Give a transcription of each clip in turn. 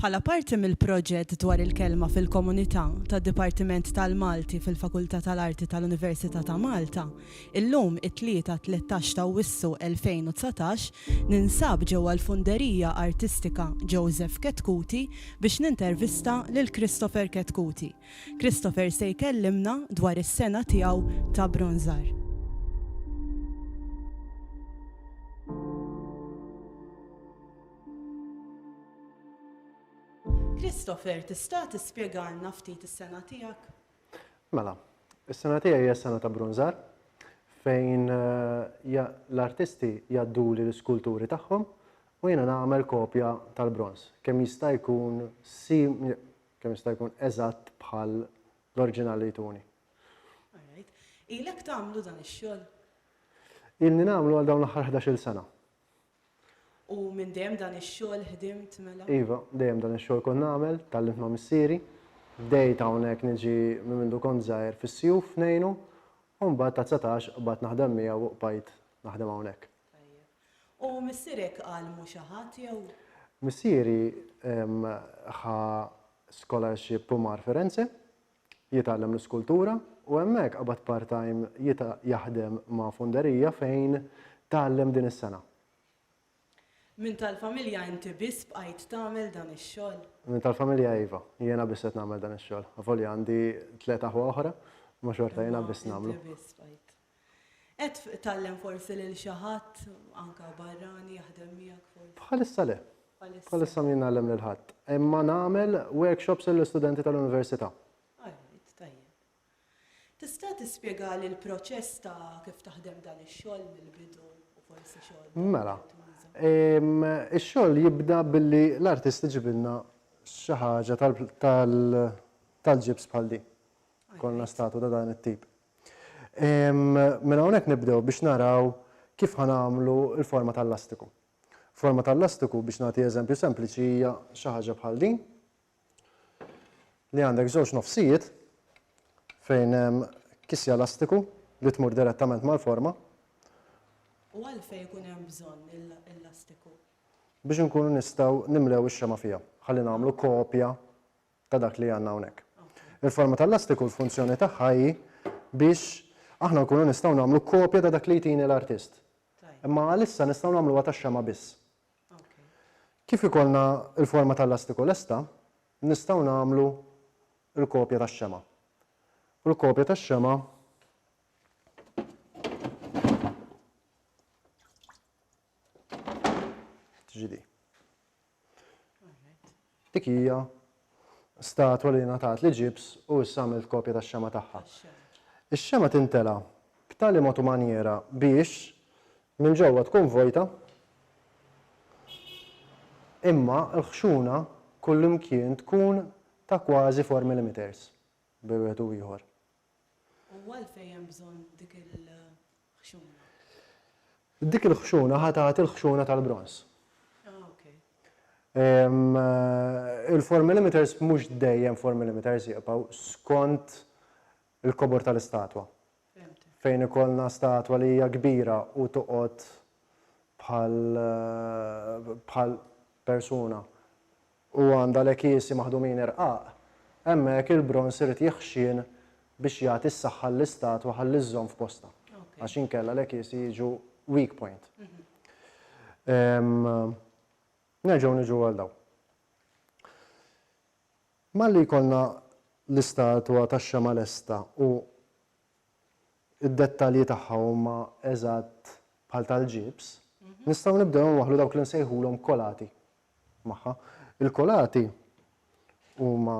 Bħala parti mill-proġett dwar il-kelma fil-komunità tad-Dipartiment tal-Malti fil-Fakultà tal-Arti tal-Università ta' Malta, illum, it-Tlieta, 13 ta' Awwissu 2019, ninsab ġewwa l-Funderija Artistika Joseph Chetcuti biex nintervista lil Christopher Chetcuti, Christopher se jkellimna dwar is-sengħa tiegħu ta' bronżar. Christopher, tista' tispjegalna ftit is-sengħa tiegħek? Mela, is-sengħa tiegħi hija s-sengħa ta' bronżar fejn eh, l-artisti jaddu li l-iskulturi tagħhom u jiena nagħmel kopja tal-bronz. Kemm jista' jkun kemm jista' jkun eżatt bħal l-orġinal li jtuni. All right. Ilek tagħmlu dan ix-xogħol? Ilni nagħmlu għal dawn l-aħħar ħdax-il sena. U minn dejjem dan ix-xogħol ħdimt mela? Iva, dejjem dan ix-xogħol kont nagħmel, tgħallimt ma' missieri. Bdejt hawnhekk niġi minn mindu kont żgħir fis-sjuf ngħinu u mbagħad ta' dsatax qbadt naħdem miegħu u bqajt naħdem hawnhekk. Tajjeb. U missierek qal mhu xi ħadd, jew? Missieri ħa scholarship Pumar Firenze, jitgħallem l-iskultura, u hemmhekk qabad part-time jaħdem ma' funderija fejn tgħallem din is-sena. Minn tal-familja inti biss bqajt tagħmel dan ix-xogħol? Minn tal-familja iva, jiena biss qed nagħmel dan ix-xogħol. Avolja għandi tliet aħwa oħra, imma xorta jiena biss nagħmlu. Imma inti biss bqajt. Qed tgħallem forsi lil xi ħadd, anke barrani, jaħdem miegħek forsi? Bħalissa le. Bħalissa m'iegħi ngħallem lil ħadd. Imma nagħmel workshops lill-istudenti tal-università. Alright, tajjeb. Tista' tispjegali l-proċess ta' kif taħdem dan ix-xogħol mill-bidu u forsi xogħol ta' Mela. Ix-xogħol jibda billi l-artist iġibilna xi ħaġa tal-ġibs bħal din. Ikollna statu ta' dan it-tip. Mela hawnhekk nibdew biex naraw kif ħa nagħmlu l-forma tal-lastiku. Forma tal-lastiku biex nagħti eżempju sempliċi hija xi ħaġa bħal din li għandek żewġ nofsijiet fejn hemm kisja lastiku li tmur direttament mal-forma. U għalfejn ikun hemm bżonn il-lastiku? Biex inkunu nistgħu nimlew ix-xema fiha. Ħalli nagħmlu kopja ta' dak li għandna hawnhekk. Il-forma tal-lastiku l-funzjoni tagħha hi biex aħna nkunu nistgħu nagħmlu kopja ta' dak li jtini l-artist. Imma għalissa nistgħu nagħmluha tax-xemgħa biss. Kif ikollna l-forma tal-lastiku lesta, nistgħu nagħmlu l-kopja tax-xemgħa. U l-kopja tax-xemgħa tiġi di. Dik hija statwa li ngħatat li Ġibs u issa għamilt kopja tax-xema tagħha. Ix-xema tintela' b'tali mod u manjiera biex minn ġewwa tkun vojta imma l-ħxuna kullimkien tkun ta' kważi four millimeters bejn wieħed u ieħor. U għalfejn hemm bżonn dik il-ħxuna? Dik il-ħxuna ħa tagħti l-ħxuna tal-bronż. Il-formilimeters mhux dejjem formilimeters jibqgħu skont il-kobor tal-istatwa. Fejn ikollna statwa li hija kbira u toqgħod bħal persuna u għandha l-ekiesi maħdumin irqaq, hemmhekk il-bronż irid jeħxien biex jagħti s-saħħa lill-istatwa ħalli żżomm f'postha, għax inkella l-ekiesi jiġu weak point. Nerġgħu niġu għal dawn. Malli jkollna l-istatwa tax-xemgħa lesta u id-dettalji tagħha huma eżatt bħal tal-ġibs, nistgħu nibdew inwaħħlu dawk li nsejħulhom kolati magħha. Il-kolati huma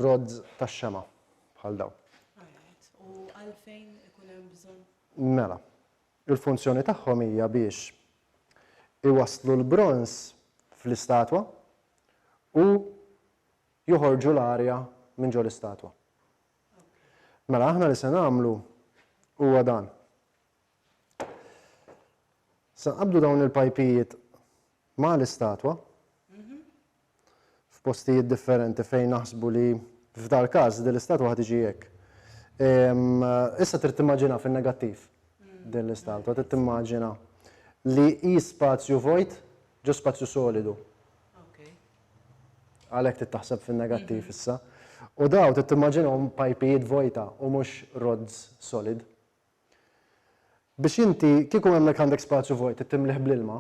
rods tax-xema bħal dawn. U għalfejn ikun hemm bżonn? Mela, il-funzjoni tagħhom hija biex iwasslu l-bronż fl-istatwa u joħorġu l-arja minn ġo l-istatwa. Mela aħna li se nagħmlu huwa dan. Se nqabdu dawn il-pajpijiet ma' l-istatwa f'postijiet differenti fejn naħsbu li f'dal-każ din l-istatwa ħad tiġi hekk. Issa trid timmaġina fin-negattiv din l-istatwa, trid timmaġina li hi spazju vojt ġo spazju solidu. Għalhekk trid taħseb fin-negattiv issa. U dawn trid timmaġinahom pajpijiet vojta u mhux rods solid. Biex inti, kieku hemmhekk għandek spazju vojt trid timlieh bl-ilma,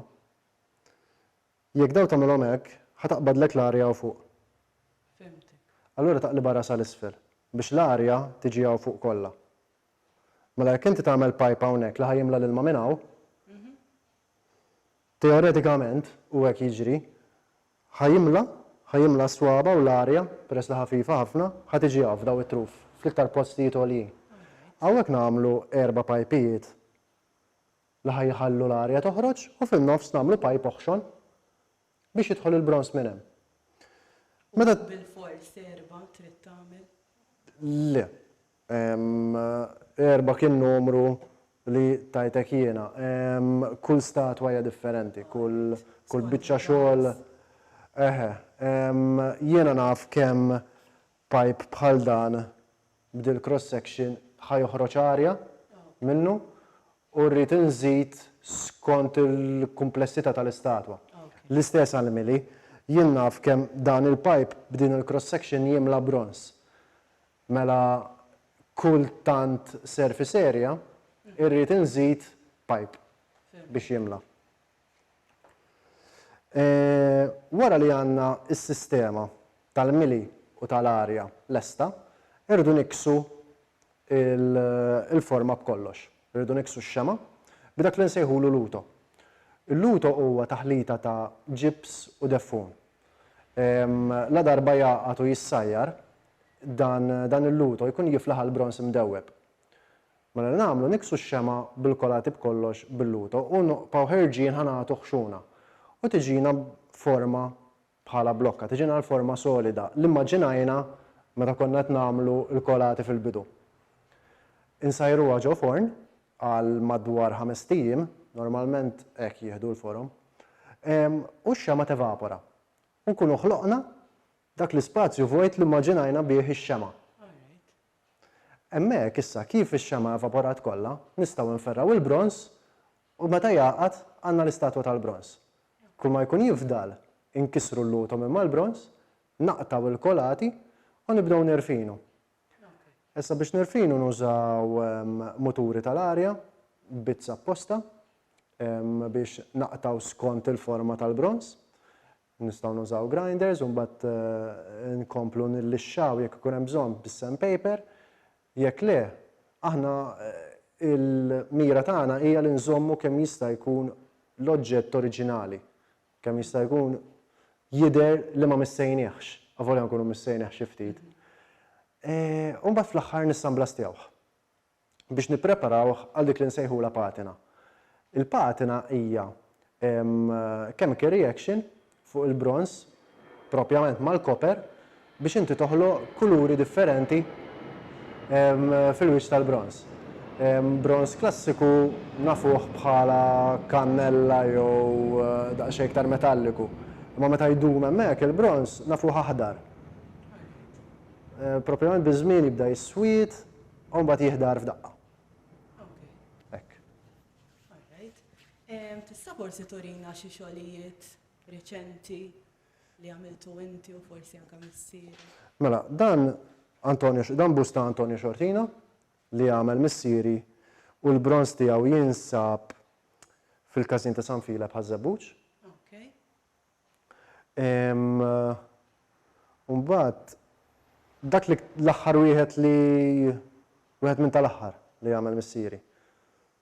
jekk dawn tagħmilhom hekk, ħa taqbadlek l-arja hawn fuq. Fhimtek. Allura taqlibha rasha 'l isfel biex l-arja tiġi hawn fuq kollha. Mela jekk inti tagħmel pipe hawnhekk li ħa jimla l-ilma minn hawn, Teoretikament, u hekk jiġri, ħa jimla, ħa jimla s-swaba u l-arja, peress li ħafifa ħafna, ħa tiġi hawn f'daw it-truf, fl-iktar postijiet għoljin. Hawnhekk nagħmlu erba' pajpijiet li ħa jħallu l-arja toħroġ u fin-nofs nagħmlu pajp oħxon biex jidħol il-bronż minn hemm. Meta. U bilfors erba' trid tagħmel? Le. Erba' kien numru li tajtek jiena. Kull statwa hija differenti, kull biċċa xogħol. Eħe. Jiena naf kemm pipe bħal dan b'dil-cross section ħa joħroġ arja minnu u rrid inżid skont il-kumplessità tal-istatwa. L-istess għall-mili. Jien naf kemm dan il-pipe b'din il-cross section jimla bronż. Mela kull tant surface area irrid inżid pipe biex jimla. Wara li għandna s-sistema tal-mili u tal-arja lesta, irridu nikksu l-forma b'kollox. Irridu nikksu x-xema' b'dak li nsejħulu luto. Il-luto huwa taħlita ta' ġibs u deffun. Ladarba jgħaqad u jissajjar, dan il-luto jkun jiflaħ għall-bronż imdewweb. Mela li nagħmlu niksu x-xemgħa bil-kolati b'kollox bil-luto u noqpgħu ħerġin ħa nagħtu ħxuna u tiġina forma bħala blokka, tiġina l-forma solida li mmaġinajna meta konna qed nagħmlu l-kolati fil-bidu. Insajruha ġo forn għal madwar ħamest ijiem, normalment hekk jieħdu l-forom, u x-xemgħa tevapora u nkunu ħloqna Dak l-ispazju vojt li immaġinajna bih ix-xemgħa. Hemmhekk issa kif ix-xemgħa evaporat kollha, nistgħu nferrgħu il-bronż u meta jgħaqad għandna l-istatwa tal-bronż. Kull ma jkun jifdal inkissru l-lutom imma l-bronż, naqtgħu l-kolati u nibdew nirfinu. Issa biex nirfinu nużaw muturi tal-arja, bizz apposta biex naqtgħu skont il-forma tal-bronż. Nistgħu nużaw grinders u mbagħad inkomplu nillixxaw jekk ikun hemm bżonn bis-sandpaper. Jekk le, aħna l-mira tagħna hija li nżommu kemm jista' jkun l-oġġett oriġinali, kemm jista' jkun jidher li ma missejniehx, avolja nkunu missejnieh xi ftit. U mbagħad fl-aħħar nissanblastjawh. biex nippreparawh għal dik li nsejħulha patina. Il-patina hija chemical reaction fuq il-bronż, propjament mal-koper, biex inti toħloq kuluri differenti fil-wiċċ tal-bronż. Bronż klassiku nafuh bħala kannella jew daqsxejn iktar metalliku, imma meta jdum hemmhekk il-bronż nafuh aħdar. Propjament biż-żmien jibda jiswied, U mbagħad jiħdar f'daqqa. Hekk. Tista' forsi turina xi xogħlijiet reċenti li għamiltu inti u forsi anke missier? Mela, dan Antonio, dan busta Antonio Xortina li għamel missieri u l-bronz tiegħu jinsab fil-każin ta' San Filep ħaż-Żebbuġ. U mbagħad dak li l-aħħar wieħed li wieħed minn tal-aħħar li għamel missieri.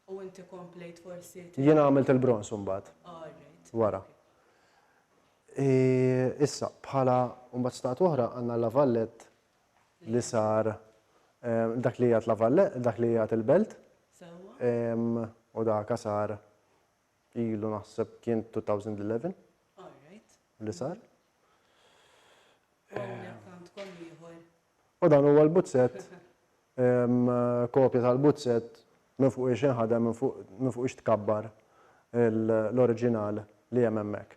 U inti komplejt forsi? Jiena għamilt il-bronż imbagħad. Wara. Issa, bħala mbagħad stat oħra għandna l-lavallett li sar dak li jgħat lavallett, dak li jgħat il-belt. U dak sar ilu naħseb kien 2011 li sar. U dan huwa l-buzzet, kopja tal-buzzet minn fuq ix inħadem, minn fuq ix tkabbar l-oriġinal li hemm hemmhekk.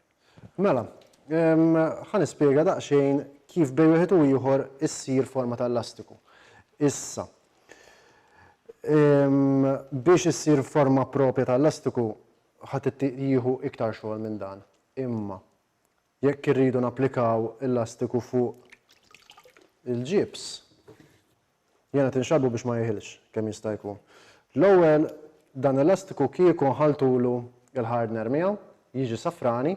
Mela, ħa nispjega daqsxejn kif bejn wieħed u ieħor issir forma ta' elastiku. Issa, biex issir forma propja ta' elastiku ħadd jieħu iktar xogħol minn dan. Imma jekk irridu napplikaw elastiku fuq il-ġibs, Jiena tinxabhu biex ma jieħilx kemm jista' jkun. L-ewwel dan elastiku kieku nħalltulu l-hardner miegħu jiġi safrani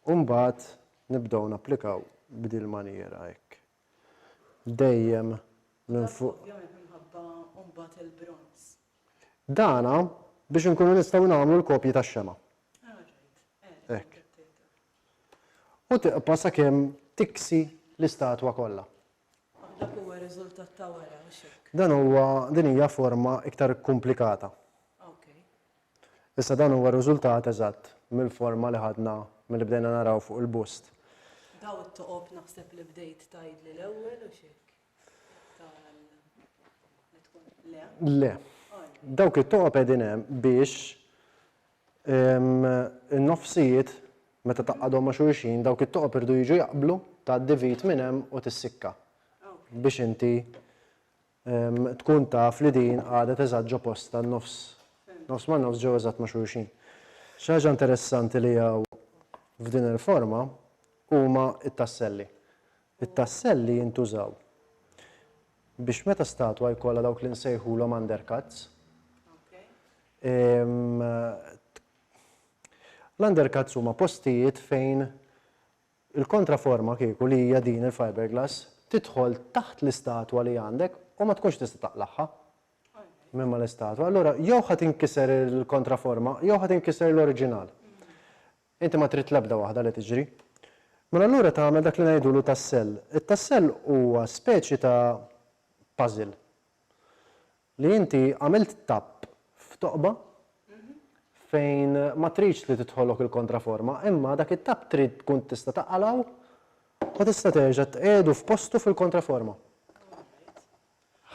u mbagħad nibdew napplikaw b'din il-manjiera hekk. Dejjem minn fuq. Dan ovvjament minħabba mbagħad il-bronz. Dan biex inkunu nistgħu nagħmlu l-kopji tax-xemgħa. Hekk. U tiqpa' sakemm tiksi l-istatwa kollha. Dak huwa riżultat ta' wara, hux hekk? Dan huwa, din hija forma iktar ikkumplikata. Okej. Issa dan huwa riżultat eżatt mill-forma li ħadna milli bdejna naraw fuq il-bust. Daw it-toqob naħseb li bdejt tgħidli l-ewwel, hux hekk? Tara li tkun, le? Le. Għala? Dawk it-toqob qegħdin hemm biex In-nofsijiet, meta tgħaqqadhom ma' xulxin, dawk it-toqob iridu jiġu jaqblu, tgħaddi vit minn hemm u tissikka biex inti tkun taf li din qagħdet eżatt ġo postha n-nofs, nofs ma' nofs ġew eżatt ma' xulxin. Xi ħaġa interessanti li hawn f'din il-forma huma t-tasselli. It-tassell li jintużaw biex meta statwa jkollha dawk li nsejħulhom undercuts. L-undercuts huma postijiet fejn il-kontraforma kieku li hija din il-fiberglass tidħol taħt l-istatwa li għandek u ma tkunx tista' taqlagħha minn mal-istatwa. Allura jew ħa tinkiser il-kontraforma jew ħa tinkiser l-oriġinal. Inti ma trid l-ebda waħda li tiġri. Mela allura tagħmel dak li ngħidulu tassell. It-tassell huwa speċi ta' puzzle li inti għamilt tapp f'toqba fejn ma tridx li tidħolok il-kontraforma imma dak it-tapp trid tkun tista' taqalgħu u tista' terġa' tqiegħdu f'postu fil-kontraforma.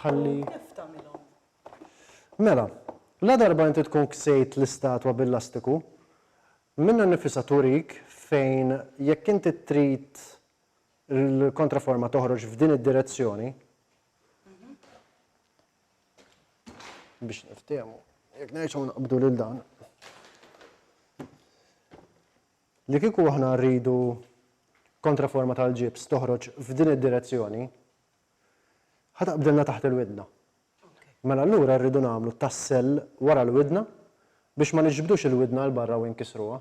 ħalli. U kif tagħmilhom? Mela, ladarba inti tkun ksejt l-istatwa bil-lastiku, minnha nnifisha turik fejn jekk inti trid l-kontraforma toħroġ f'din id-direzzjoni, biex niftiehmu, jekk nerġgħu naqbdu lil dan, li kieku aħna rridu kontraforma tal-ġibs toħroġ f'din id-direzzjoni, Ħa taqbdilna taħt il-widna. Mela allura rridu nagħmlu tassell wara l-widna biex ma niġbdux il-widna għal barra u inkisruha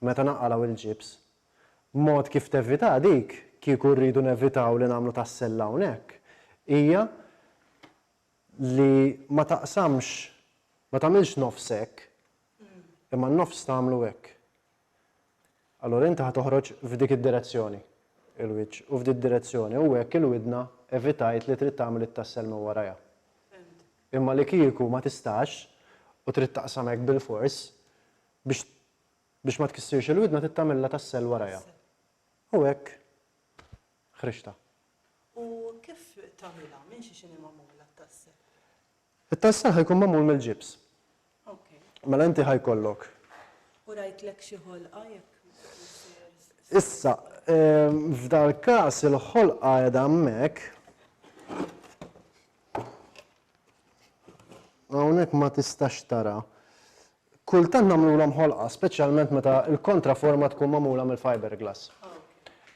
meta naqalgħu il-ġibs. Mod kif tevitaha dik, kieku rridu nevitaw li nagħmlu tassell hawnhekk, hija li ma taqsamx, ma tagħmilx nofs hekk, imma n-nofs tagħmlu hekk. Allura inti ħa toħroġ f'dik id-direzzjoni, il-wiċċ, u f'dik direzzjoni, u hekk il-widna evitajt li trid tagħmel it-tassel minn warajha. Imma li kieku ma tistax u trid taqsam hekk bilfors, biex biex ma tkissirx il-widna trid tagħmilha tassel warajha. U hekk ħriġtha. U kif tagħmilha? Minn xi x'inhi magħmula t-tassel? It-tassar ħa jkun magħmul mill-ġibs. Mela inti ħa jkollok. U rajtlek xi ħolqa jekk. Issa, f'dal-każ il-ħolqa qiegħda hemmhekk. Hawnhekk ma tistax tara. Kultant nagħmlulhom ħolqa, speċjalment meta l-kontraforma tkun magħmula mill-fiberglass.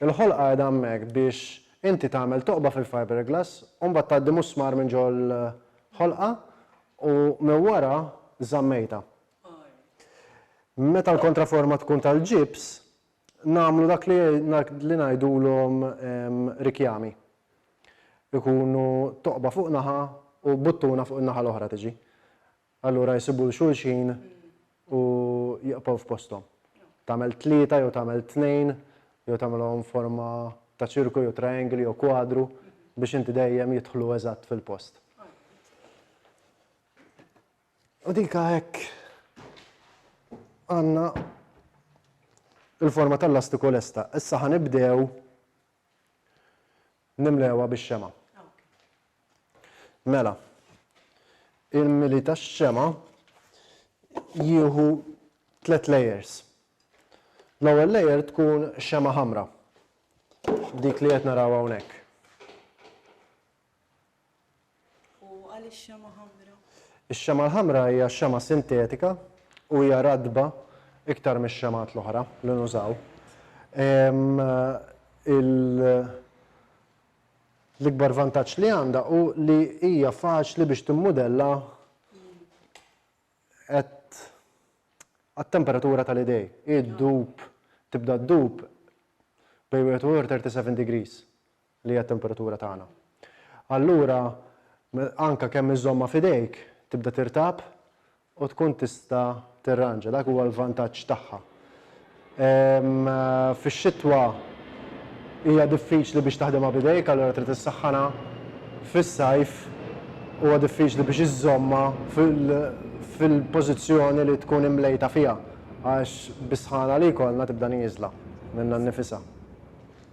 Il-ħolqa qiegħda hemmhekk biex inti tagħmel toqba fil-fiberglass u mbagħad tgħaddi musmar minn ġol-ħolqa u minn wara żammejtha. Meta l-kontraforma tkun tal-ġibs, nagħmlu dak li ngħidulhom rikjami. Ikunu toqba fuq naħa u buttuna fuq in-naħa l-oħra tiġi. Allura jsibu 'l xulxin u jiqfgħu f'posthom. Tagħmel tlieta jew tagħmel tnejn jew tagħmilhom forma ta' ċirku jew triangli jew kwadru biex inti dejjem jidħlu eżatt fil-post. U dika hekk għandna il-forma tal-lastiku lesta. Issa ħa nibdew Nimlewha bix-xemgħa. Mela, il-mili tax-xemgħa jieħu tliet layers. L-ewwel layer tkun xemgħa ħamra, dik li qed naraw hawnhekk. U għaliex xemgħa ħamra? Ix-xemgħa l-ħamra hija xemgħa sintetika u hija ratba iktar mix-xemgħat l-oħra li nużaw. L-ikbar vantaġġ li għandha hu li hija faċli biex timmudella għat-temperatura tal-idej. Hi ddub, tibda ddub bejn wieħed u ieħor 37 degrees. li hija t-temperatura tagħna. Allura, anke kemm iżżommha f'idejk, tibda tirtab u tkun tista' tirranġa. Dak huwa l-vantaġġ tagħha. Fix-xitwa hija diffiċli biex taħdimha b'idejk, allura trid issaħħanha. Fis-sajf huwa diffiċli biex iżżommha fil-pożizzjoni li tkun imlejta fiha għax bis-sħana li jkollna tibda nieżla minnha nnifisha.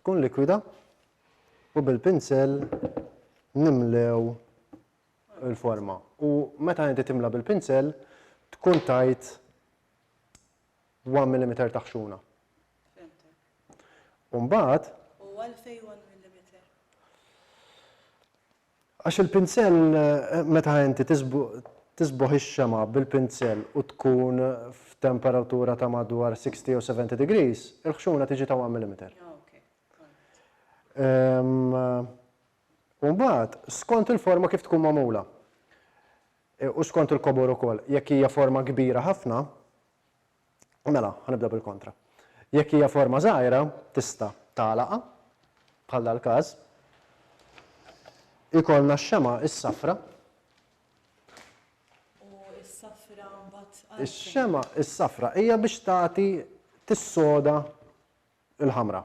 tkun likwida u bil-pinsell nimlew il-forma. U meta inti timla bil-pinsell tkun tajt 1 mm ta' ħxuna. Umbat. U għalfej 1 mm? Għax il-pinsell, meta inti tisboħ ix-xemgħa bil-pinsell u tkun f'temperatura ta' madwar 60 jew 70 degrees, il-ħxuna tiġi ta' one millimeter. U mbagħad, skont il-forma kif tkun magħmula, u skont il-kobor ukoll, jekk hija forma kbira ħafna, Mela, ħa nibda bil-kontra. Jekk hija forma żgħira, tista' tagħlaqha, bħal dal-każ. Ikollna x-xemgħa is-safra. U s-safra mbagħad. Ix-xemgħa is-safra hija biex tagħti tissoda il-ħamra.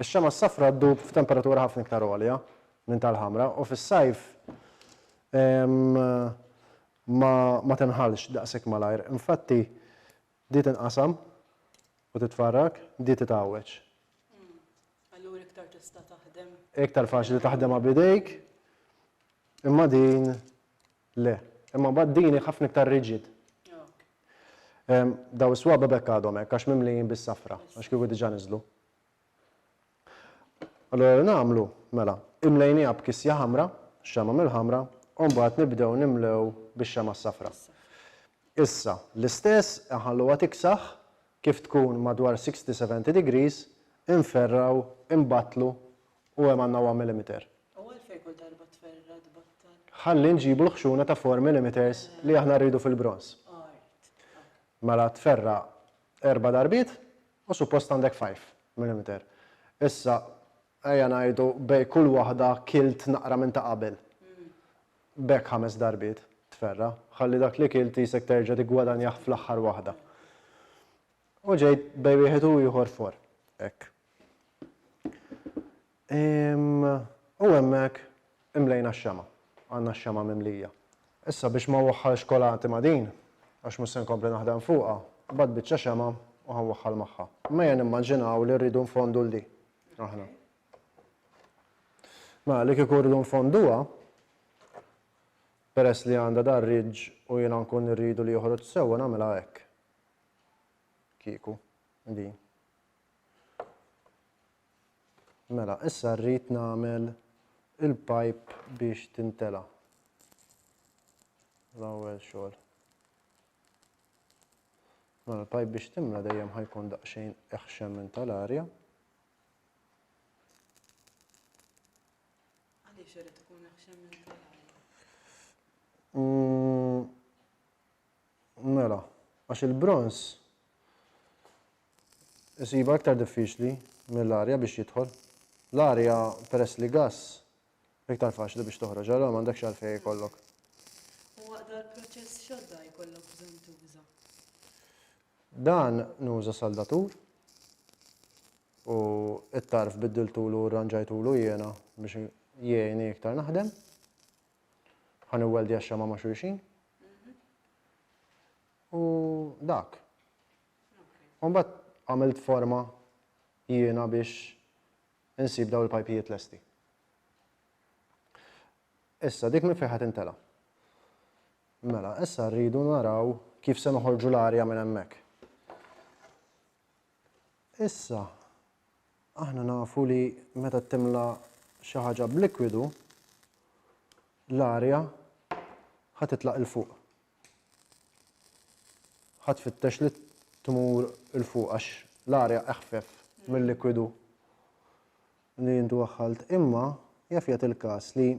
Ix-xemgħa s-safra ddub f'temperatura ħafna iktar għolja minn tal-ħamra u fis-sajf ma tinħallx daqshekk malajr. Infatti, di tinqasam u titfarrak, di titgħawweġ. Allura iktar tista' taħdem. Iktar faċli taħdemha b'idejk, imma din Le. Imma mbagħad din hi ħafna iktar rigid. Daw is-swaba b'hekk għadhom hekk għax mimlijin bis-safra, għax kieku diġà niżlu. Allura nagħmlu, mela, imlejniha b'kisja ħamra, xama mill-ħamra, u mbagħad nibdew nimlew bix-xama s-safra. Issa, l-istess nħalluha tiksaħ kif tkun madwar 60-70 degrees, inferraw, inbattlu U hemm għandna 1 millimeter. U għalfejn kull darba tferra' tbattal? Ħalli nġibu l-ħxuna ta' 4 millimeters li aħna rridu fil-bronż. Art. Mela tferra' erba' darbiet u suppost għandek 5 millimeter. Issa ejja ngħidu bejn kull waħda kilt naqra minn ta' qabel. B'hekk ħames darbiet tferra'. Ħalli dak li kilt qisek terġa' tiggwadanjah fl-aħħar waħda. U ġejt bejn wieħed u ieħor 4. Hekk. U hemmhekk imlejna x-xemgħa. Għandna x-xemgħa mimlija. Issa biex ma waħħalx kolanti ma' din, għax mhux se nkompli naħdem fuqha, bagħat biċċa xemgħa u ħa nwaħħal magħha. M'ejja nimmaġinaw li rridu nfondu 'l di, aħna. Mela li kieku rridu nfonduha, peress li għandha dar-ridġ u jiena nkun irridu li joħroġ sewwa nagħmilha hekk. Kieku. Din. Mela, issa rrid nagħmel il-pipe biex tintela. L-ewwel xogħol. Mela l-pipe biex timla dejjem ħajkun daqsxejn eħxem minn tal-arja. Għaliex irid ikun eħxem minn tal-arja? Mm, Mela, għax il-bronż isibha iktar diffiċli mill-arja biex jidħol. L-arja peress li gass iktar faċli biex toħroġ, allura m'għandekx għalfejn ikollok. U waqt dal-proċess x'għodda jkollok bżonn tuża? Dan nuża saldatur u t-tarf biddiltulu u rranġajtulu jiena biex jgħinni iktar naħdem. Ħa niwweldja x-xama ma' xulxin. U dak. U mbagħad għamilt forma jiena biex insib daw il-pajpijiet lesti. Issa dik minn fejn intela. Mela, issa rridu naraw kif se noħorġu l-arja minn hemmhekk. Issa, aħna nafu li meta timla xi ħaġa b'likwidu, l-arja ħa titlaq il fuq. Ħa tfittex li tmur il fuq għax l-arja eħfef mill-likwidu li jintu waħħalt. Imma jaf jagħti l-każ li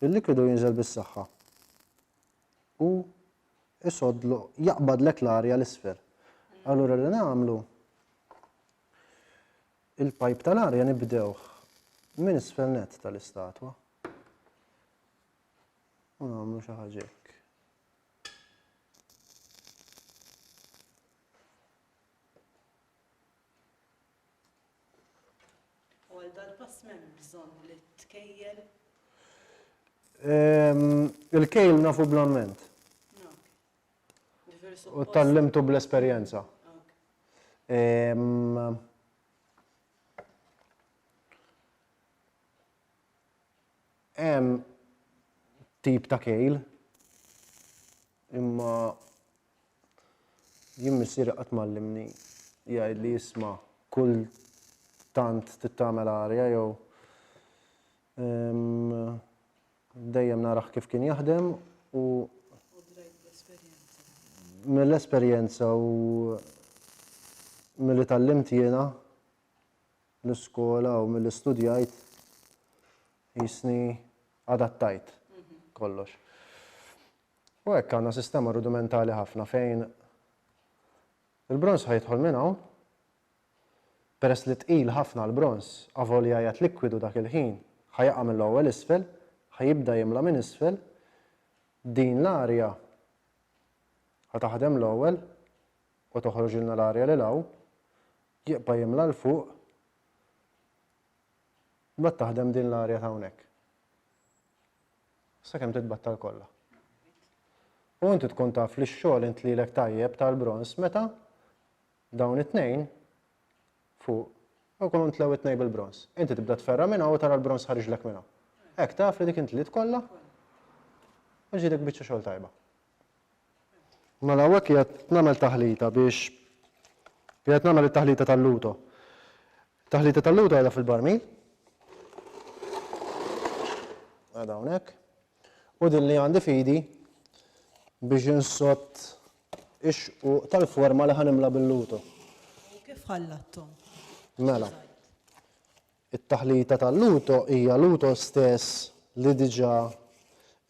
il-likwidu jinżel bis-saħħa u isoddlu, jaqbadlek l-arja 'l isfel. Allura li nagħmlu, il-pajp tal-arja nibdewh minn isfel nett tal-istatwa. U nagħmlu xi ħaġa hekk. U għal dal-pass m'hemmx bżonn li tkejjel? Il-kejl nafu bl-amment. U tgħallimtu bl-esperjenza. Hemm tip ta' kejl imma Jien missieri qatt m'għallimni jgħidli isma' kull tant trid tagħmel arja jew dejjem narah kif kien jaħdem u mill-esperjenza u milli tgħallimt jiena l-iskola u milli studjajt qisni adattajt kollox. U hekk għandna sistema rudimentali ħafna fejn il-bronż ħa jidħol minn hawn, peress li tqil ħafna l-bronż avolja qiegħed likwidu dak il-ħin ħa jaqa' mill-ewwel isfel, ħa jibda jimla minn isfel, din l-arja ħa taħdem l-ewwel u toħroġilna l-arja lil hawn, jibqa' jimla 'l fuq, mbagħad taħdem din l-arja ta' hawnhekk. sakemm titbattal kollha. U inti tkun taf li x-xogħol intlielek tajjeb tal-bronż meta dawn it-tnejn fuq u jkunu ntlew it-tnejn bil-bronż. Inti tibda tferra minn hawn u tara l-bronż ħariġlek minn hawn. Hekk taf li dik intliet kollha u ġielek biċċa xogħol tajba. Mela hawnhekk qiegħed nagħmel taħlita biex qiegħed nagħmel it-taħlita tal-luto. Taħlita tal-luto qiegħda fil-barmil. Għada hawnhekk. U din li għandi fidi biex insott ix tal-forma li ħanimla bil-luto. Kif ħallattom? Mela. It-taħlita tal-luto hija luto stess li diġà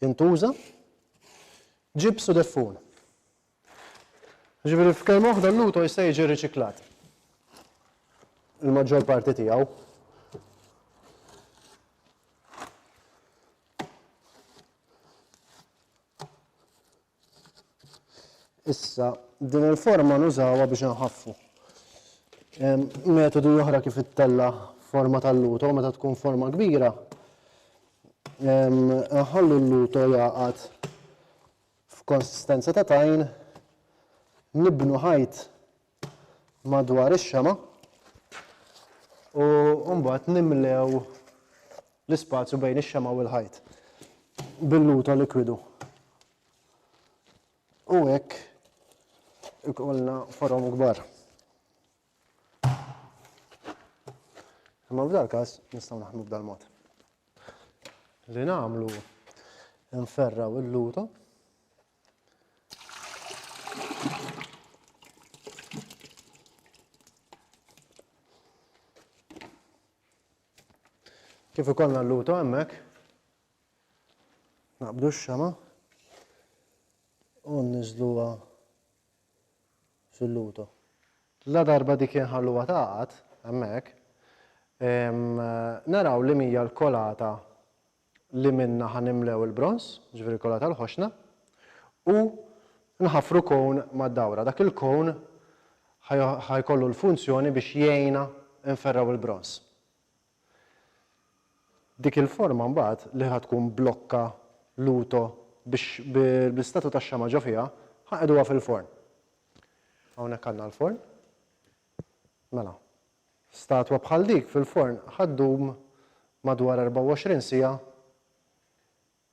intuża. Ġibs u deffun. Jiġifieri f'kelma waħda l-luto jista' jiġi riċiklat. Il-maġġor parti tiegħu. Issa, din il-forma nużawha biex inħaffu. Metodi oħra kif ittella forma tal-luto meta tkun forma kbira, nħallu l-luto jaqgħad f'konsistenza ta' tajn, nibnu ħajt madwar ix-xama' u mbagħad nimlew l-ispazju bejn ix-xama' u l-ħajt bil-luto likwidu. U hekk ikollna forom kbar. Imma f'dal każ nistgħu naħdmu b'dal mod. Li nagħmlu nferraw il-luto Kif ikollna l-luto hemmhekk, naqbdu x-xama u nniżluha fil-luto. La darba dik inħalluha taqgħad hemmhekk, naraw li mija l-kolata li minnha ħa nimlew il-bronż, jiġifieri l-kolla tal-ħoxna, u nħaffru kown mad-dawra. Dak il-kown ħa jkollu l-funzjoni biex jgħinna nferrgħu l-bronż. Dik il-forma mbagħad li ħa tkun blokka luto biex bl-istatu tax-xama' ġo fiha, ħa nqiegħduha fil-forn. Hawnhekk għandna l-forn. Mela, Statwa bħal dik fil-forn ħa ddum madwar 24 siegħa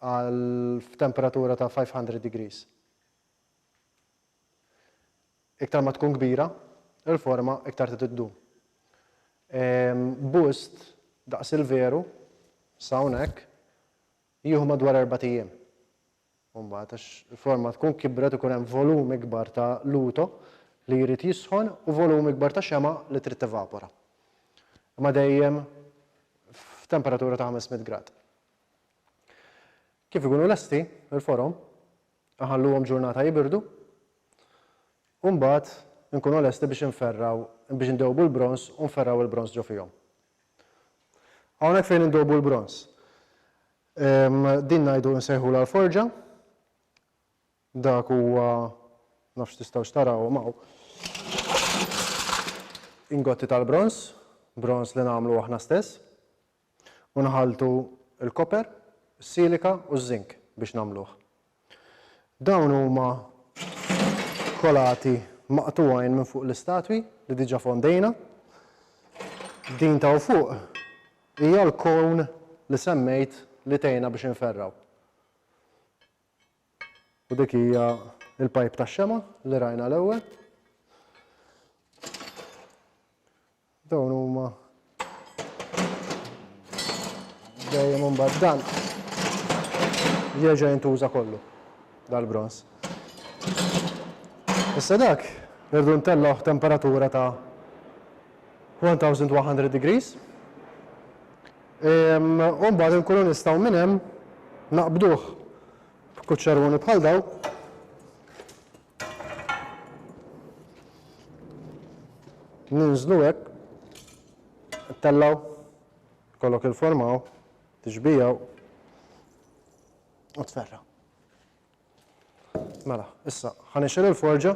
għal f'temperatura ta' 500 degrees. Iktar ma tkun kbira l-forma iktar trid iddum. Bust daqs il-veru, sa hawnhekk, jieħu madwar erbat ijiem. u mbagħad għax il-forma tkun kibret ikun hemm volum ikbar ta' luto li jrid jisħon u volum ikbar ta' xemgħa li trid tevapora. Imma dejjem f'temperatura ta' 500 grad. Kif ikunu lesti il-forom, nħalluhom ġurnata jibirdu u mbagħad inkunu lesti biex inferraw biex indewbu l-bronż u nferraw il-bronż ġo fihom. Hawnhekk fejn indewbu l-bronż. Din ngħidu nsejħulha l-forġa. Dak huwa nafx tistgħux tarawhom hawn. Ingotti tal-bronż, bronż li nagħmlu aħna stess, u nħalltu l-koper, is-silika u ż-żink biex nagħmluh. Dawn huma kolati maqtugħin minn fuq l-istatwi li diġà fondejna. Din t'hawn fuq hija l-cone li semmejt li tgħinna biex inferrgħu. U dik hija l-pipe tax-xema' li rajna l-ewwel. Dawn huma dejjem imbagħad dan jerġa' jintuża kollu dal-bronż. Issa dak irdu ntellgħu temperatura ta' 1100 degrees. Ehm, u mbagħad inkunu nistgħu minn hemm naqbduh b'kuċċaruni bħal daw Ninżlu hekk, tellgħu, kollok il-formaw, tiġbijaw u tferra. Mela, issa, ħanixil il-forġa,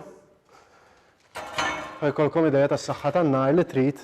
ħajkolkom ideja tas-saħħa tan-nar li trid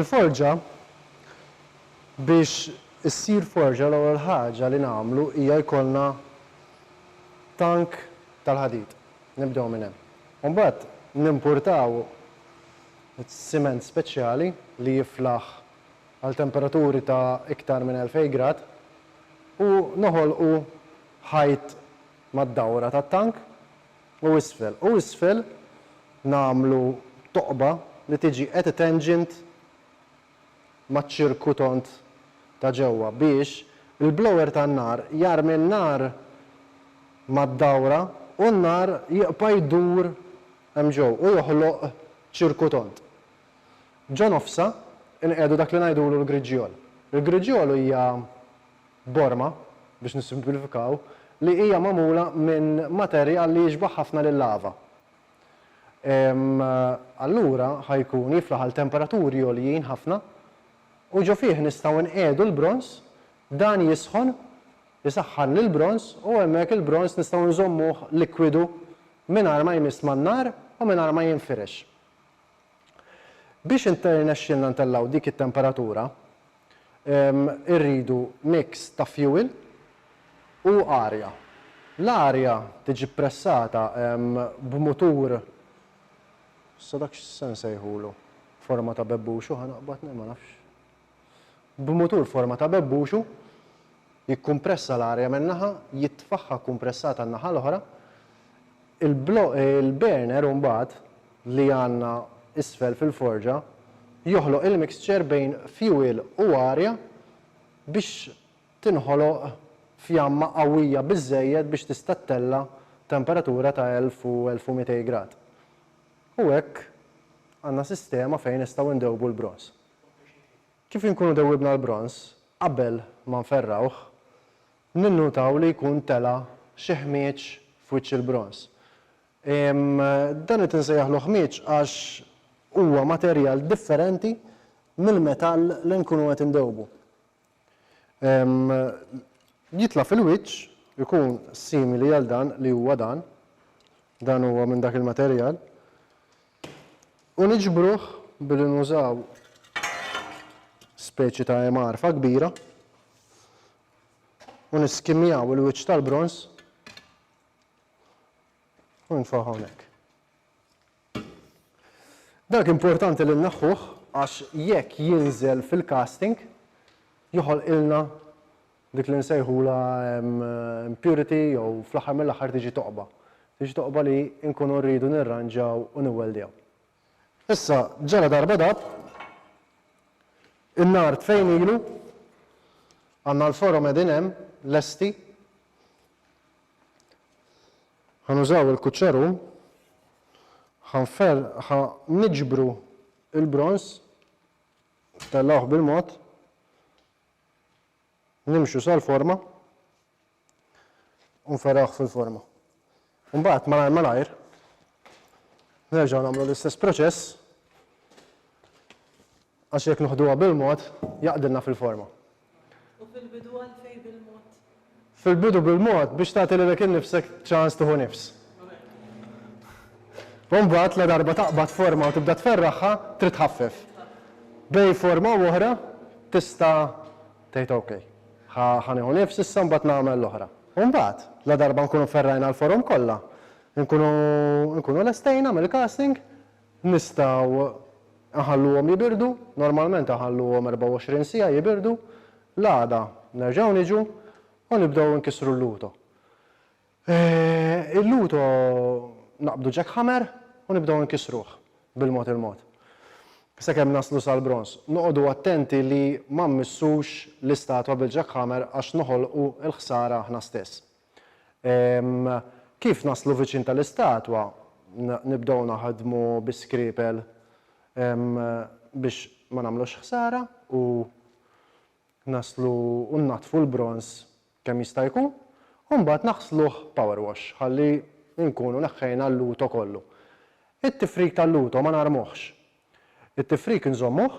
Il-forġa, biex issir forġa l-ewwel ħaġa li nagħmlu hija jkollna tank tal-ħadid. Nibdew minn hemm. Imbagħad nimpurtaw Siment speċjali li jiflaħ għal temperaturi ta' iktar minn 2,000 grad u noħolqu ħajt mad-dawra tat-tank u isfel u isfel nagħmlu toqba li tiġi at tangent maċ-ċirkutont ta' ġewwa biex il-blower tan-nar jarmi n-nar mad-dawra u n-nar jibqa' jdur Hemm ġo u joħloq ċirku tond. Ġo nofsha nqiegħdu dak li ngħidulu l-griġjol. Il-griġjol hija borma, biex nissimplifikaw, li hija magħmula minn materjal li jixbaħ ħafna lil-lava. Allura ħa jkun jiflaħ għal temperaturi għoljin ħafna u ġo fih nistgħu nqiegħdu l-bronż, dan jisħon Isaħħan l-bronż u hemmhekk il-bronż nistgħu nżommuh likwidu mingħajr ma jmiss man-nar u mingħajr ma jinfirex. Biex jirnexxilna ntellgħu dik it-temperatura, irridu mix ta' fjuwil u arja. L-arja tiġi ppressata b'mutur, issa dak x'se nsejħulu, forma ta' bebbux hu ħa naqbad, le ma nafx. B'mutur forma ta' bebbuxu, jikkumpressa l-arja minn naħa, jitfagħha kkumpressata n-naħa l-oħra. Il-burner imbagħad, li għandna isfel fil-forġa, joħloq il-mixture bejn fuel u arja biex tinħoloq fjamma qawwija biżżejjed biex tista' ttella' temperatura ta' 1000 u 1200 grad. U hekk għandna sistema fejn nistgħu ndewbu l-bronż. Kif inkunu dewwibna l-bronż qabel ma nferrgħuh, ninnutaw li jkun tela' xi ħmieġ f'wiċċ il-bronż. Dan qed insejjaħlu ħmieġ għax huwa materjal differenti mill-metall li nkunu qed indewwbu. Jitla' fil-wiċċ ikun simili għal dan li huwa dan, dan huwa minn dak il-materjal, u niġbruh billi nużaw speċi ta' emarfa kbira u niskimjaw il-wiċċ tal-bronż u nfaħħu hawnhekk. Dak importanti li nneħħuh għax jekk jinżel fil-casting joħolqilna dik li nsejħulha impurity jew fl-aħħar mill-aħħar tiġi toqba. Tiġi toqba li nkunu rridu nirranġaw u niwweldjaw. Issa ġala darba dab in-nar tfejn ilu, għandna l-forom qegħdin hemm lesti, Ħa nużaw il-kuċċarun, ħa nfer, ħa niġbru il-bronż, ntellgħuh bil-mod, nimxu sal-forma u nferrawh fil-forma. Mbagħad malajr malajr nerġgħu nagħmlu l-istess proċess għax jekk noħduha bil-mod jaqdilna fil-forma. U fil-bidu għalfejn bil-mod? Fil-bidu bil-mod biex tagħti lilek innifsek ċans tieħu nifs. U mbagħad ladarba taqbad forma u tibda tferraħha, trid tħaffef. Bejn forma u oħra tista' tgħid ok, ħa nieħu nifs issa mbagħad nagħmel l-oħra. U mbagħad, ladarba nkunu ferrajna l-forom kollha, nkunu lestejna mill-casting, Nistgħu nħalluhom jibirdu, normalment inħalluhom 24 siegħa jibirdu, l-għada nerġgħu niġu u nibdew inkissru l-luto. Il-luto naqbdu jackhammer u nibdew inkissruh bil-mod il-mod sakemm naslu sal-bronż. Noqogħdu attenti li ma mmissux l-istatwa bil-jackhammer għax noħolqu l-ħsara aħna stess. Ehm, kif naslu viċin tal-istatwa, nibdew naħdmu bi skripel ehm, biex ma nagħmlux ħsara u naslu u nnaddfu l-bronż kemm jista' jkun, u mbagħad naħsluh power wash ħalli nkunu neħħejna l-luto kollu. It-tifrik tal-luto ma narmuhx. It-tifrik inżommuh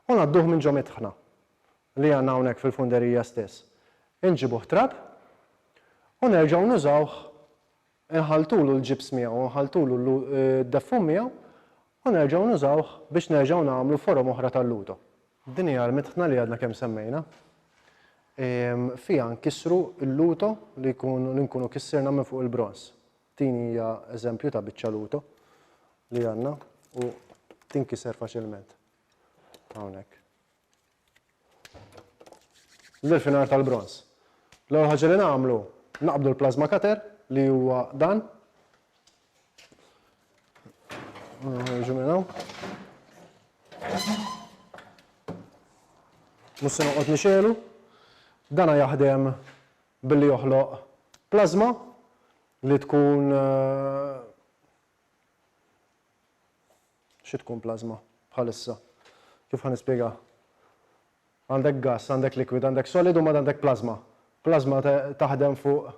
u ngħadduh minn ġo midħna. li għandna hawnhekk fil-funderija stess, inġibuh trab u nerġgħu nużawh, inħalltulu l-ġibs miegħu u nħalltulu d-deffum miegħu u nerġgħu nużawh biex nerġgħu nagħmlu forom oħra tal-luto. Din hija l-mitħna li għadna kemm semmejna. Fiha nkissru l-luto li nkunu kissirna minn fuq il-bronż. Din hija eżempju ta' biċċa luto li għandna u tinkiser faċilment hawnhekk. L-irfinar tal-bronż. L-ewwel ħaġa li nagħmlu, naqbdu l-plasma cutter li huwa dan. Ħarġu minn hawn. Mhux se noqgħod nixelu. Dana jaħdem billi joħloq plasma li tkun eh, Xi tkun plażma bħalissa? Kif ħa nispjega? Għandek gass, għandek liquid, għandek solid u mbagħad għandek plażma. Plażma taħdem fuq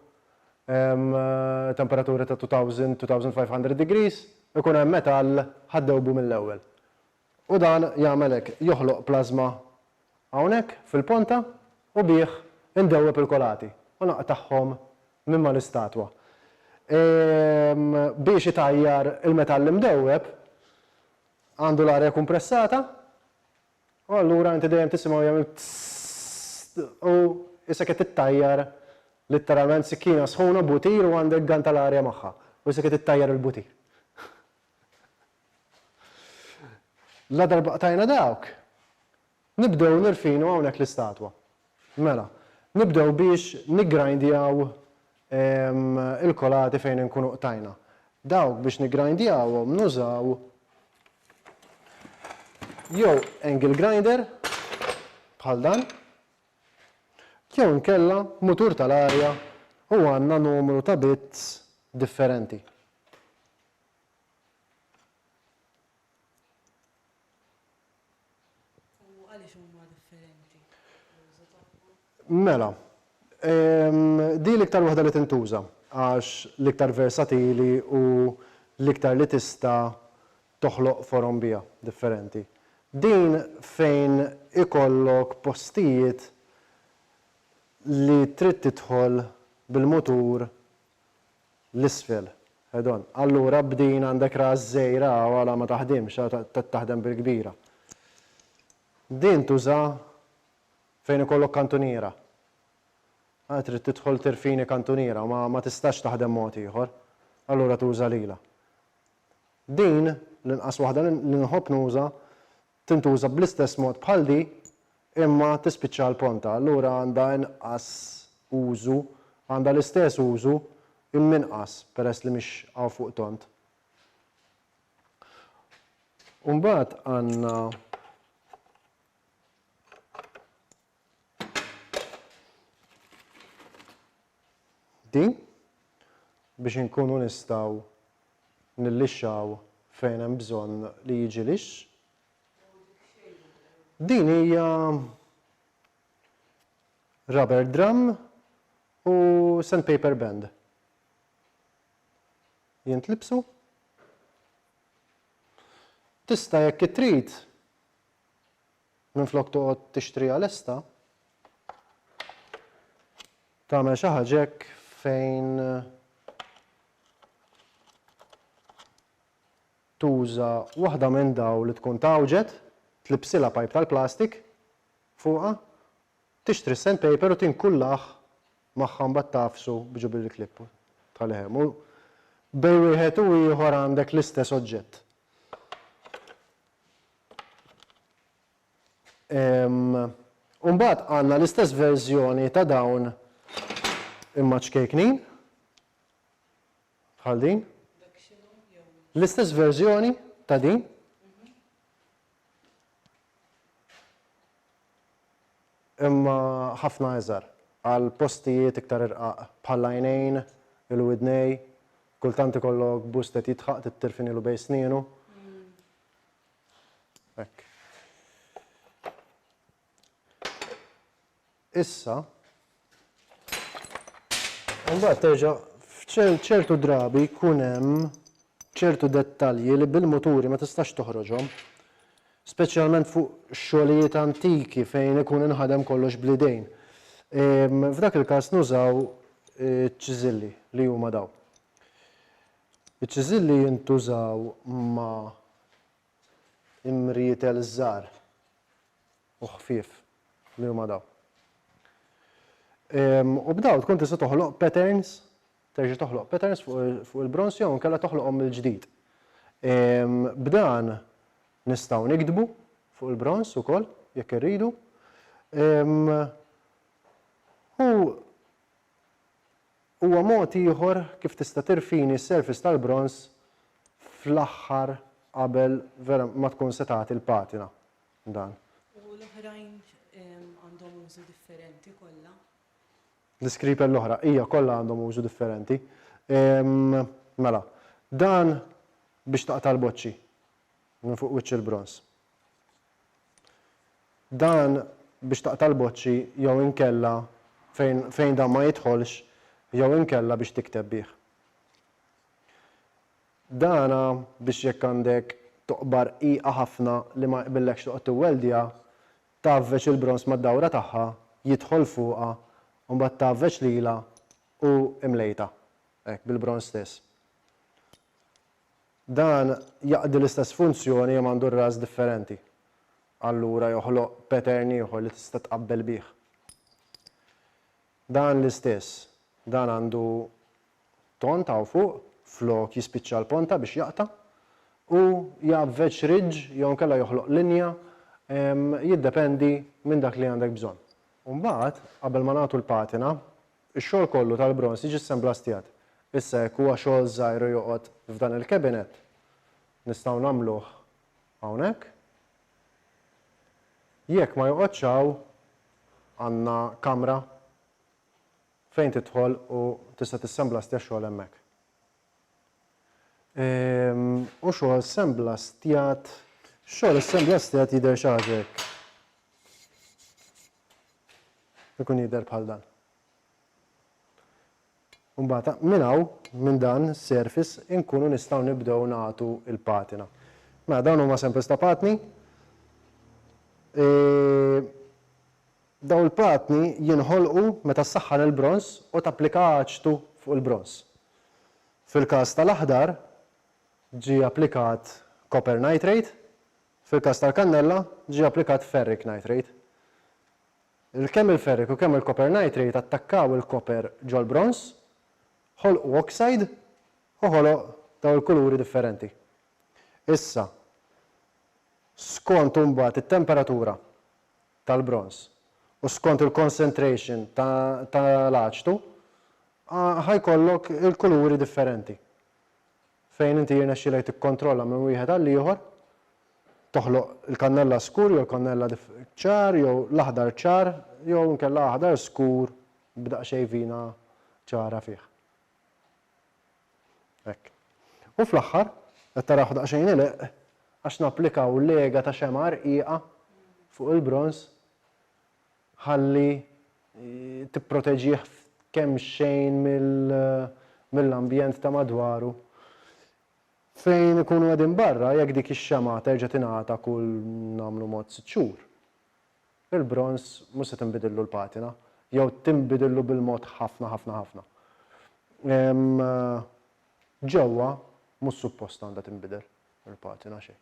temperaturi ta' 2000, 2500 degrees, ikun hemm metall ħa ddewbu mill-ewwel. U dan jagħmel hekk, joħloq plażma hawnhekk fil-ponta u bih indewweb il-kolati u naqtagħhom minn mal-istatwa. Biex itajjar il-metall imdewweb għandu l-arja kumpressata u allura inti dejjem tisimgħu jagħmel tss u isek qed ittajjar litteralment sikkina sħuna butir u għandek gann tal-arja magħha u isek qed ittajjar il-butir. Ladarba qtajna dawk, nibdew nirfinu hawnhekk l-istatwa. Mela, nibdew biex niggrindjaw il-kolati fejn inkunu qtajna. Dawk biex niggrindjawhom nużaw jew angle grinder bħal dan, jew inkella mutur tal-arja u għandna numru ta' bits differenti. U għaliex huma differenti l-użu tagħhom? Mela, din l-iktar waħda li tintuża għax l-iktar versatili u l-iktar li tista' toħloq forom biha differenti. Din fejn ikollok postijiet li trid tidħol bil-mutur l-isfel. Head on. Allura b'din għandek ras żgħira hawn għala ma taħdimx, qed taħdem bil-kbira. Din tuża fejn ikollok kantuniera. Trid tidħol tirfini kantuniera, ma tistax taħdem mod ieħor. Allura tuża lilha. Din, l-inqas waħda li nħobb nuża, tintuża bl-istess mod bħal di imma tispiċċa għal pronta, allura għandha inqas użu, għandha l-istess użu imma inqas peress li mhix hawn fuq tond. U mbagħad għandna Din biex inkunu nistgħu nillixxaw fejn hemm bżonn li jiġi lix. Din hija rubber drum u sandpaper band. Jintlibsu. Tista' jekk trid Minflok toqgħod tixtriha lesta, tagħmel xi ħaġa hekk fejn tuża waħda minn dawn li tkun tgħawġet, tlibsilha pajp tal-plastik fuqha, tixtri s-sandpaper u tinkullah magħha mbagħad tagħfsu b'ġubli l-klipp u tħallih hemm. U bejn wieħed u ieħor għandek l-istess oġġett. U mbagħad għandna l-istess verżjoni ta' dawn imma ċkejknin. Bħal din. L-istess verżjoni ta' din. Imma ħafna eżar għal postijiet iktar irqaq bħal għajnejn, il-widnej, kultant ikollok bustet jitħaq tittirfinilu bej snienu. Hekk. Issa, mbagħad terġa' f'ċertu drabi jkun hemm ċertu dettalji li bil-muturi ma tistax toħroġhom, speċjalment fuq xogħlijiet antiki fejn ikun inħadem kollox bl-idejn. F'dak il-każ nużaw ċiżilli li huma daw. Iċ-ċiżill li jintużaw ma' imrietel żgħar u ħfief li huma dawn. U b'dawn tkun tista' toħloq patterns, terġa' toħloq patterns fuq il-bronż jew inkella toħloqhom mill-ġdid. B'dan nistgħu niktbu fuq il-bronż ukoll jekk irridu. U Huwa mod ieħor kif tista' tirfini s-surface tal-bronż fl-aħħar qabel vera ma tkun se tagħti l-patina dan. U l-oħrajn għandhom użu differenti kollha? L-iskripel l-oħra, ija kollha għandhom użu differenti. Mela, dan biex taqta' l-boċċi minn fuq wiċċ il-bronż. Dan biex taqta' l-boċċi jew inkella fejn fejn dan ma jidħolx jew inkella biex tikteb bih. Dan biex jekk għandek toqba rqiqa ħafna li ma jqbillekx toqgħod tiwweldja, tgħavveġ il-bronż mad-dawra tagħha, jidħol fuqha u mbagħad tgħavveġ lilha u imlejtha hekk bil-bronż stess. Dan jaqdi l-istess funzjoni imma għandu r-ras differenti. Allura joħloq pattern ieħor li tista' tqabbel bih. Dan l-istess. Dan għandu tont hawn fuq flok jispiċċa l-ponta biex jaqta' u jgħavveġ ridge jew inkella joħloq linja jiddependi minn dak li għandek bżonn. U mbagħad qabel ma nagħtu l-patina Ix-xogħol kollu tal-bronż jġissen blastjat. Issa jekk huwa xogħol żgħir u joqgħod f'dan il-cabinet, nistgħu nagħmluh hawnhekk. Jekk ma joqgħodx hawn, għandna kamra fejn tidħol u tista' tissemblastja x-xogħol hemmhekk. Hu xogħol ssemblastjat. Xogħol issemblastjat jidher xi ħaġa hekk. Ikun jidher bħal dan. Mbagħad minn hawn minn dan is-surface inkunu nistgħu nibdew nagħtu l-patina. Mela dawn huma samples ta' patni. E, dawn il-patni jinħolqu meta ssaħħan il-bronż u tapplika aċtu fuq il-bronż. Fil-każ tal-aħdar ġie applikat copper nitrate Fil-każ tal-kannella, ġie applikat ferric nitrate. Il-kemm il-ferric u kemm il-copper nitrate attakkaw il-copper ġol-bronż, ħolqu oxide u ħoloq dawn il-kuluri differenti. Issa, skont imbagħad it-temperatura tal-bronż u skont il-concentration tal-aċtu, ħa jkollok il-kuluri differenti. fejn inti jirnexxilek tikkontrolla minn wieħed għall-ieħor, toħloq il-kannella skur jew il-kannella ċar jew l-aħdar ċar jew inkella aħdar skur b'daqsxejn vina ċara fih. Hekk. U fl-aħħar, qed tarawh daqsxejn ileqq għax napplikaw lega ta' xemgħa rqiqa fuq il-bronż ħalli tipproteġih kemxejn mill-ambjent ta' madwaru. Fejn ikunu qegħdin barra, jekk dik ix-xemgħa terġa' tingħata kull nagħmlu mod sitt xhur, il-bronż mhux se tinbidillu l-patina, jew tinbidillu bil-mod ħafna ħafna ħafna. Ġewwa mhux suppost għandha tinbidel il-patina xejn.